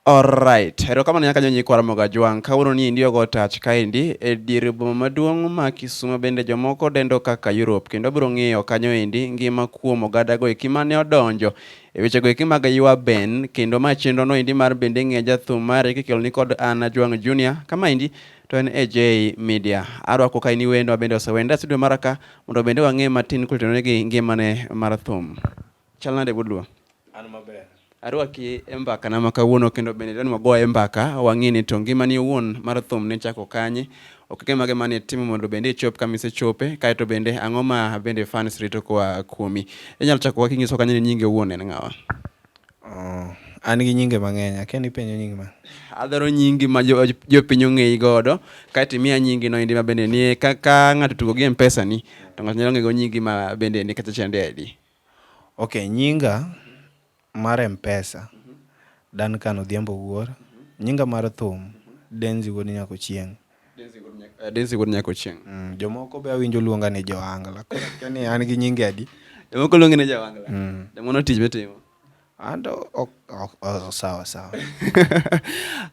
Alright, erokamano nyaka nyo nyikwa Ramogi Ajwang'. Kawuono ni endi ogo touch kaendi e dier boma maduong' ma Kisumo bende jomoko dendo kaka Europe kendo wabiro ng'iyo kanyo endi ngima kuom ogada go eki mane odonjo e weche go eki mag ywa ben kendo ma chenro no endi mar bende ng'e jathum mari kikelo ni kod an Ajwang' Junior kama endi to en AJ Media. Arwako ka ini wendo ma bende osewenda studio maraka mondo bende wang'e matin kulitenonegi ngimane mar thum. Chal nade wuod Luo? An maber. Arwaki e mbaka na makawuono kendo bende dani wagoye e mbaka wang'e ni to ngimani owuon mar thum ne chako kanye, okenge mage mane itimo mondo bende ichop kama isechope, kae to bende ang'o ma bende fans rito koa kuomi. Inyalo chako kaka inyiso kanye ni nyingi owuon en ng'awa? Oh, an gi nyinge mang'eny, akia ni ipenjo nyingi ma. Adwaro nyingi ma jo- jopiny ong'eyi godo, kae to imiya nyingi no endi ma bende nie ka, ka ng'ato tugo gi Mpesa ni to ng'ato nyalo ng'ego nyingi ma bende ni kacha chande adi. Ok nyinga mar mpesa Dancan Odhiambo Wuor, nyinga mar thum Denzy wuod Nyakochieng. Denzy wuod Nyakochieng. Mm, jomoko be awinjo luonga ni Joangla. Koro akia ni an gi nyinge adi. Jomoko luongi ni Joangla. Mm. Demono tich mitimo. Ando ok ok oh, sawa sawa.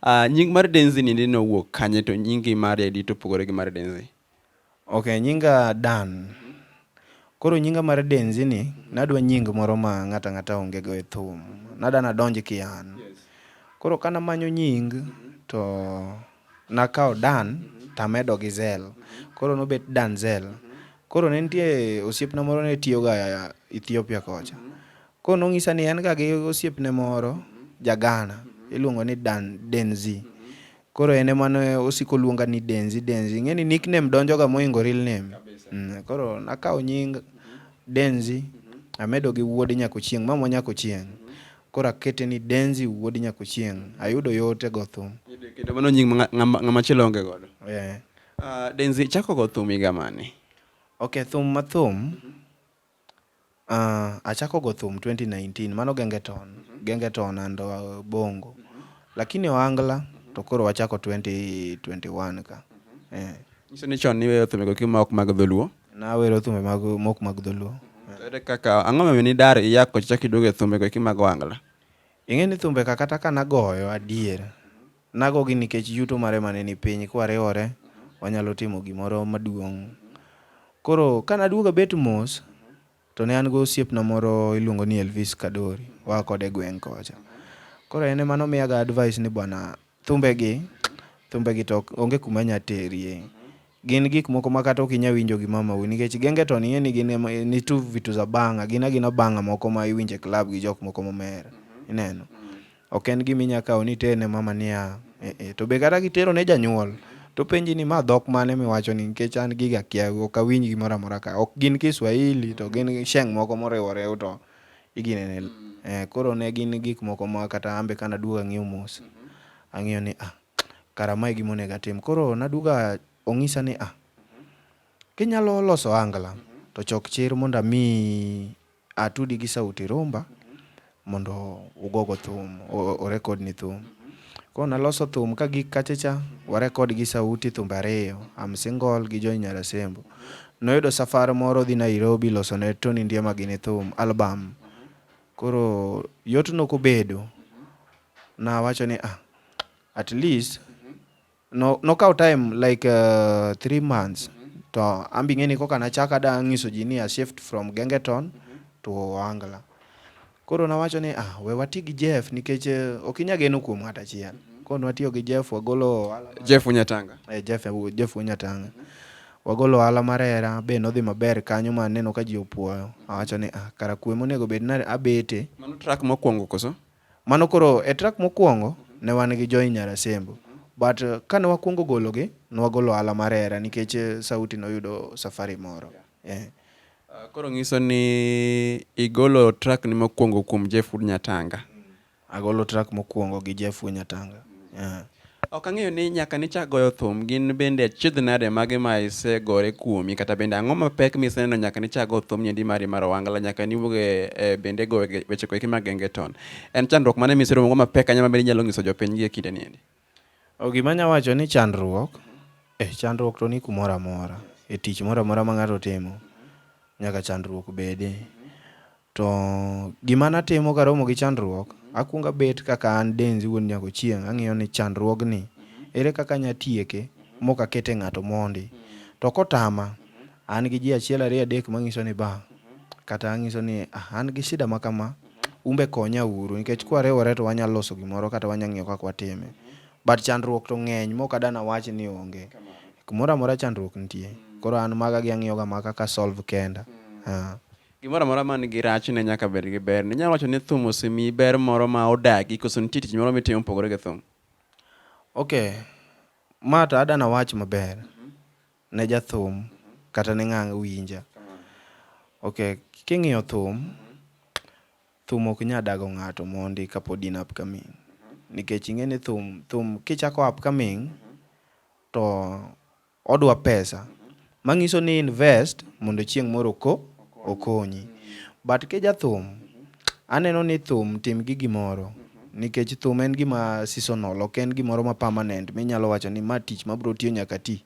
Ah, nying mar Denzy ni nowuok kanye to nyingi mar Edi to opogore gi mar Denzy? Ok nyinga Dan. Koro nyinga mar Denzi ni nadwa nying moro ma ng'ata ng'ata onge go e thum. Nada nadonj ki an. Koro kana manyo nying to nakawo Dan tamedo gi Zel. Koro nobet Danzel. Koro ne nitie osiepna moro ne tiyo ga Ethiopia kocha. Koro nong'isa ni en ga gi osiepne moro ja Ghana iluongo ni Dan Denzi. Koro en ema ne osiko luonga ni Denzi Denzi. Ing'e ni nickname donjoga moingo real name. Mm, koro nakawo nying Denzi amedo gi wuod Nyakochieng, mamwa Nyakochieng. Koro akete ni Denzi wuod Nyakochieng. Ayudo yote go thum. Kendo mano nying ma ng'ama ng'ama chielo onge godo. Yeah. Ah, Denzi chako go thum higa mane? Okay, thum ma thum Achako go thum twenty nineteen, mano gengeton, gengeton and bongo. Lakini ohangla to koro wachako twenty twenty one ka. Eh. Nyiso ni chon niweyo thumbego ki mok mag dholuo. Nawero thumbe mag mok mag dholuo. To ere kaka ang'o momiyo nidar iya kocha chak iduogo e thumbego eki mag ohangla? Ing'e ni thumbe ka kata ka nagoyo adier, Nagogi nikech yuto marema ne ni piny. Kwariwore, wanyalo timo gimoro maduong'. Koro ka naduogo abet mos, to ne an gi osiepna moro iluongo ni Elvis Kadori, waa kode e gweng' kocha. Koro en ema nomiyaga advice ni bwana, thumbegi, thumbegi to onge kuma nya terie. Gin gik moko ma kata ok inyal winjo gi mamau nikech genge to nie ni gin ema ni tu vitu za banga, gin agina banga moko ma iwinjo e club gi jok moko momer. Ineno? Ok en gima inyalo kawo ni iter ne mama niya, eh, eh. To be kata kitero ne janyuol, to penji ni ma dhok mane miwacho ni nikech an giga akia, ok awinj gimoro amora ka. Ok gin Kiswahili to gin sheng' moko moriwore to igine ne. Eh, koro ne gin gik moko ma kata an be kane aduogo ang'iyo mos, ang'iyo ni ah. kara mae gima onego atim. Koro naduga ong'isa ni a, kinyalo loso angla to chok chir mondo amiyi atudi gi Sauti Rumba mondo ugogo thum, orekod ni thum. Koro naloso thum ka gik kachacha, warekod gi Sauti thumbe ariyo, I'm Single gi Joy Nyarasembo. Noyudo safar moro dhi Nairobi loso ne Tony Ndiema gini thum, album. Koro yot nokobedo, Nawacho ni ah, at least no, nokawo time like uh, three months to an be ing'e ni koka nachako ada nyiso ji ni a shift from Gengeton to Ohangla. Koro nawacho ni ah, we wati gi Jeff nikech eh, ok inya geno kuom ng'at achiel. Koro nwatiyo gi Jeff wagolo ohala mar- Jeff Unyatanga. eh, Jeff Jeff Unyatanga. Wagolo ohala mar hera be nodhi maber kanyo ma aneno ka ji opuoyo. Awacho ni ah, kara kuwe monego bed ni abete. Mano track mokwongo koso? Mano koro e track mokuongo ne wan gi Joy Nyarasembo but kane wakuongo gologi ne wagolo Ohala mar Hera nikech Sauti noyudo safari moro. Eh. Koro ngiso ni igolo track ni mokuongo kuom Jeff Wood Nyatanga. Agolo track mokuongo gi Jeff Wood Nyatanga. Eh. Ok ang'eyo ni nyaka nichak goyo thum, gin bende achiedh nade magi ma isegore kuomi, kata bende ang'o mapek miseneno nyaka nichak go thum niendi mari mar Owangla, nyaka niwuog e e bende go weche go eki mag Gengeton. En chandruok mane miseromo go mapek ahinya mabende inyalo ng'iso jopiny gie kinde niendi? O gima anya wacho ni chandruok, eh chandruok to ni kumoro amora. E tich moro amora ma ng'ato timo, nyaka chandruok bede. To gima natimo karomo gi chandruok, akuongo abet kaka an Denzy wuod Nyakochieng' ang'iyo ni chandruogni ere kaka anya tieke mok akete ng'ato mondi. To kotama, an gi ji achiel ariyo adek manyiso ni ba, kata anyiso ni ah an gi shida ma kama, umbe konya uru nikech kwariwore to wanya loso gimoro kata wanya ng'iyo kaka watime. But chandruok to ng'eny mok ada nawach ni onge. Kumoro amora chandruok nitie. Koro an maga gi ang'iyoga ma kaka a solve kenda. Gimoro amora man gi rachne nyaka bed gi ber. Ninyalo wacho ni thum osemiyi ber moro ma odagi koso nitie tich moro mitimo mopogore gi thum? Okay, ma to adana wach maber ne jathum kata ne ng'ang' winja. Okay, king'iyo thum, thum ok nya dago ng'ato mondi kapod in upcoming. Nikech ing'e ni thum, thum kichako upcoming to Odwa pesa mangiso ni invest mondo chieng moro oko okonyi. But kijathum aneno ni thum tim gi gimoro nikech thum en gima seasonal ok en gimoro ma permanent minyalo wacho ni ma tich mabro tiyo nyaka ati.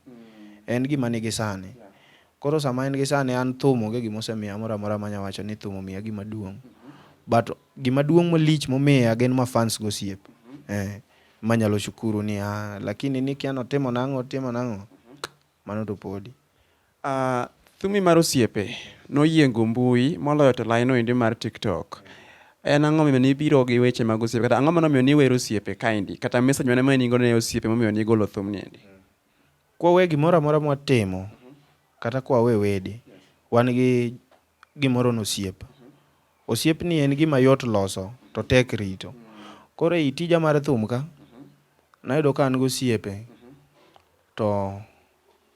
En gima nigi sane. Koro sama en gi sane an thum onge gima osemiya moro amora manya wacho ni thum omiya gima duong. But gima duong malich momiya gin ma fans gi osiepe. Eeh. manyalo shukuru ni ah, lakini nikia notimo nang'o otimo nang'o mano to podi uh, thumi mar osiepe noyiengo mbui moloyo to laino endi mar tiktok en ang'o momiyo nibiro gi weche mag osiepe kata ang'o manomiyo niwero osiepe kaendi kata message mane mane nigo ne osiepe momiyo nigolo thumni endi kwawe gimoro amora mwatimo kata kwawe wede wan gi gimoro ni osiep. Osiepni en gima yot loso to tek rito. Koro ei tija mar thum ka, nayudo ka an gosiepe to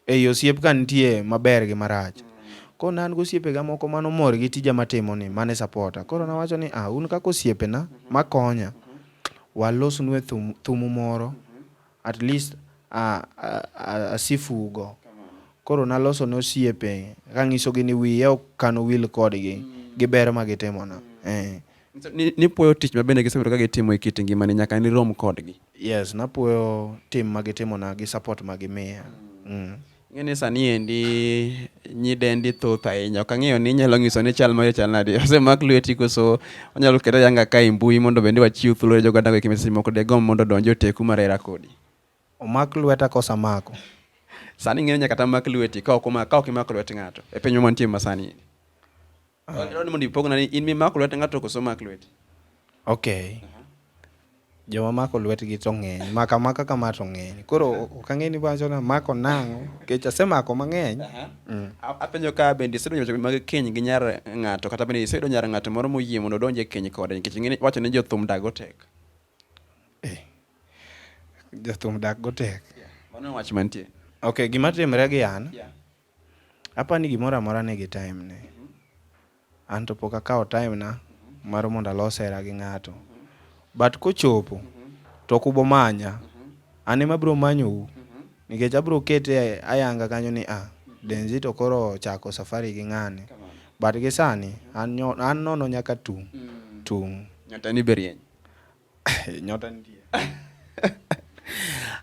ei osiep ka nitie maber gi marach. Koro ne an gosiepega moko mane omor gi tija matimoni mane sapota. Koro nawacho ni ah, un kaka osiepena makonya, walosnue thumu moro at least asifu go. Koro naloso ne osiepe kanyiso gi ni wiya ok kan wil kodgi gi ber ma gitimo na. Eh. Nipuoyo tich ma bende gisebedo ka gitimo e kit ngimani nyaka nirom kodgi. Yes, napuoyo tim ma gitimo na gi support ma gimiya. Mm. Ing'e ni sani endi nyidendi thoth ahinya. Ok ang'eyo ni inyalo nyiso ni chal mari chal nadi. Osemak lweti koso onyalo keta yanga ka e mbui mondo bende wachiw thuolo ne joganda weki message moko degom mondo donj oteku mar hera kodi. Omak lweta kosa mako. Sani ing'e ni nyaka tamak lweti ka ok omako ka ok imako lwet ng'ato. E pinywa mantie masani. Adwaro ni mondo ipogna ni in mimako lwet ng'ato koso mak lwet. Okay. Joma mako lwetgi to ng'eny, maka maka kama to ng'eny. Koro ok ang'e ni wacho na mako nang'o, nikech asemako mang'eny. Mm. A- Apenjo ka bende isedonjo weche mag keny gi nyar ng'ato kata bende iseyudo nyar ng'ato moro moyie mondo odonje keny kode nikech ing'e ni- wacho ni jothum dago tek. Jothum dak go tek. Mano en wach mantie. Okay, gima timre gi an, Yeah. Apa ni gimoro amora nigi time ne. An to pok akawo time na mar mondo alos hera gi ng'ato. But kochopo to ok ubo manya. An ema abiro manyou nikech abiro kete ayanga kanyo ni ah, Denzi to koro ochako safari gi ng'ani. But gi sani an nono nyaka tung'. Tung'. Nyatani be rieny. Nyota nitie.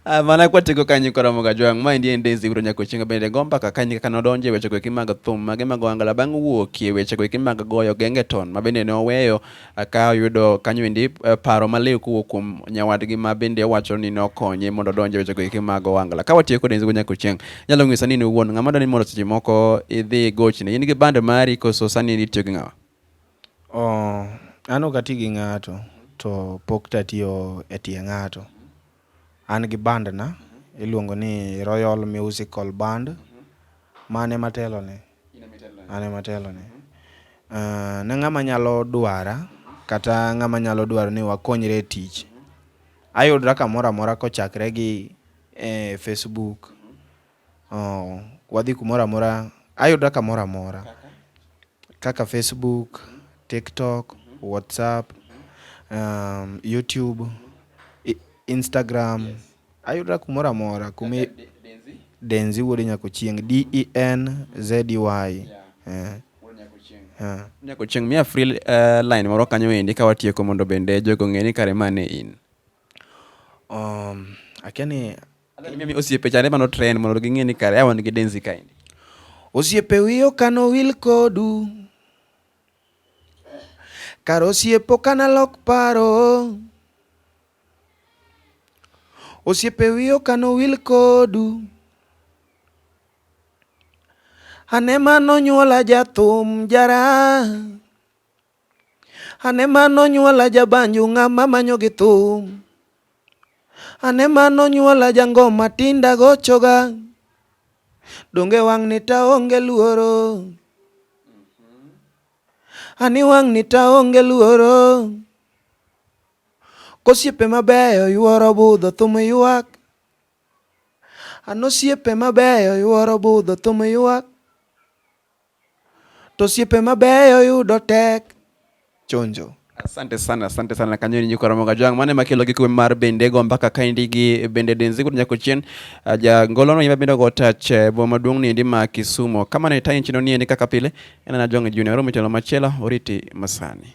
Ah, mana kwatieko kanyo ikoromo ga jwang' ma endi en Daisy Wiro Nyakochienga bende go mbaka kanyo kaka nodonje weche go mag thum mage mag Wangala bang' wuokie weche go mag goyo gengeton ma bende ne oweyo ah, ka oyudo kanyo endi eh, paro maliw kowuok kuom nyawadgi ma bende owacho ni nokonye mondo odonje weche go mag Wangala ka watieko Daisy Wiro Nyakochienga nyalo ng'isa ni in iwuon ng'ama dwani mondo seche moko idhi gochne in gi band mari koso sani itiyo gi ng'awa An ok ati gi ng'ato to pok to atiyo e tie ng'ato. An gi band na iluongo ni Royal Musical Band ma an ema atelo ne. An ema atelo ne. Ne ng'ama nyalo dwara kata ng'ama nyalo dwaro ni wakonyre e tich, ayudra kamoro amora kochakre gi e Facebook. Oh, wadhi kumoro amora, ayuda kamoro amora kaka Facebook, TikTok, WhatsApp, um, YouTube, i- Instagram. Ayuda kumoro amora kumi Denzi wuod Nyakochieng, D E N Z E Y. Eh, eh. Nyako chieng' miya free uh, line moro kanyo endi ka watieko mondo bende jogo ng'e ni kare ma ne in. Um, akia ni Mimi osiepe chande mano trend mondo ging'e ni kare awan gi denzi kaendi. Osiepe wiyo kano wil kodu. Kar osiepo kana lok paro. Osiepe wiyo kano wil kodu. Ane mano nyuola jathum jara. Ane ma nonyuola jabanju ng'ama manyo gi thum. Ane ma nonyuola jangoma tinda gochoga. Donge wang'ni taonge luoro. Ani wang'ni taonge luoro. Kosiepe mabeyo yuoro budho thum ywak. Anosiepe mabeyo yuoro budho thum ywak. To siepe mabeyo yudo tek chonjo. Asante sana, asante sana Kanyoni Nyuka Ramoga Jwang' mane makelo gi kuwe mar bende go mpaka kaendi gi bende Denzi kudu nyako chien ah, ja ngolo no yima bende go touch eh, boma maduong' ni endi ma Kisumo. Kama ne tayin chino ni endi kaka pile, ena na Jwang' Junior, oro mitelo machielo, oriti masani.